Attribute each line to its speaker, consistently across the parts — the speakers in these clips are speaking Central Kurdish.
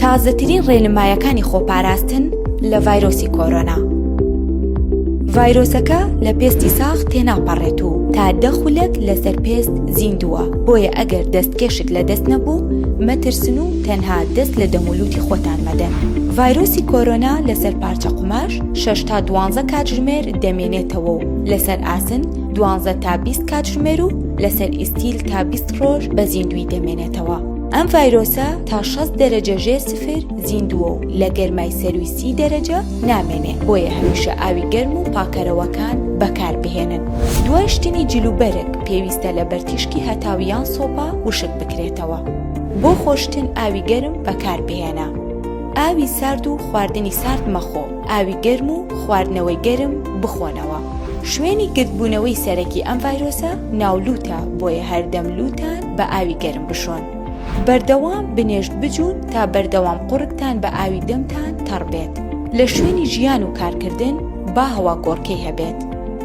Speaker 1: تازەترین ڕێنمایەکانی خۆپاراستن لە ڤایرۆسی کۆرۆنا. ڤایرۆسەکە لە پێستی ساخ تێناپەڕێت و تا دەخولەت لەسەر پێست زیندووە بۆیە ئەگەر دەستکێشت لە دەست نەبوو مەترسن و تەنها دەست لە دەمولوتی خۆتان مەدەن. ڤایرۆسی کۆرۆنا لەسەر پارچە قوماش شش تا دوانزە کاتژمێر دەمێنێتەوە و لەسەر ئاسن دوانزە تا بیست کاتژمێر و لەسەر ئیستیل تا بیست ڕۆژ بە زیندوی دەمێنێتەوە. ئەم ڤایرۆسە تا 6 دەرەجە ژێر سفر زیندووە و لە گەرمای سەروی سی دەرەجە نامێنێ بۆیە هەمیشە ئاوی گەرم و پاکەرەوەکان بەکاربهێنن دوای شتنی جل و بەرگ پێویستە لە بەرتیشکی هەتاویان سۆپا وشک بکرێتەوە بۆ خۆشتن ئاوی گەرم بەکاربهێنە ئاوی سارد و خواردنی سارد مەخۆ. ئاوی گەرم و خواردنەوەی گەرم بخۆنەوە، شوێنی گردبوونەوەی سەرەکی ئەم ڤایرۆسە ناو لووتە بۆیە هەردەم لووتان بە ئاوی گەرم بشۆن. بەردەوام بنێشت بجوون تا بەردەوام قوڕگتان بە ئاوی دەمتان تەڕ بێت. لە شوێنی ژیان و کارکردن با هەوا گۆڕکێی هەبێت.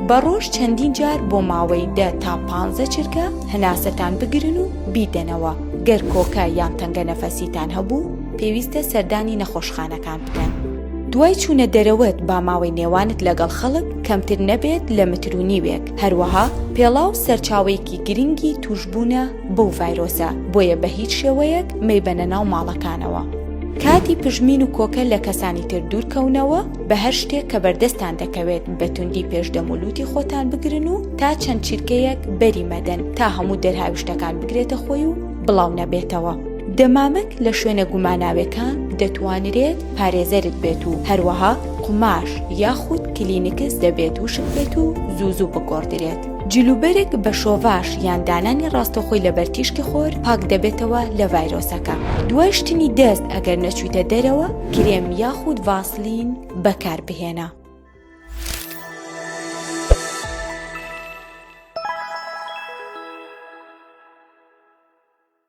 Speaker 1: بە ڕۆژ چەندین جار بۆ ماوەی دە تا پانزە چرکە هەناسەتان بگرن و بیدەنەوە، گەر کۆکە یان تەنگە نەفەسیتان هەبوو پێویستە سەردانی نەخۆشخانەکان. دوای چوونە دەرەوەت با ماوەی نێوانت لەگەڵ خەڵک کەمتر نەبێت لە متر و نیوێک هەروەها پێڵاو سەرچاوەیەکی گرنگی توشبوونە بەو ڤایرۆسە بۆیە بە هیچ شێوەیەک مەیبەنە ناو ماڵەکانەوە. کاتی پژمین و کۆکە لە کەسانی تر دوورکەونەوە، بە هەر شتێک کە بەردەستان دەکەوێت بە توندی پێش دەم و لووتی خۆتان بگرن و تا چەند چرکەیەک بەری مەدەن تا هەموو دەرهاویشتەکان بگرێتە خۆی و بڵاو نەبێتەوە. دەمامک لە شوێنە گوماناوێکان دەتوانرێت پارێزەرت بێت و هەروەها قوماش یاخود کلینکس دەبێت وشک بێت و زوو زوو بگۆڕدرێت. جلوبەرگ بە شۆڤاش یان دانانی ڕاستەخۆی لەبەر تیشکی خۆر پاک دەبێتەوە لە ڤایرۆسەکە. دوای شتنی دەست ئەگەر نەچوویتە دەرەوە کرێم یاخود ڤاسلین بەکاربهێنە.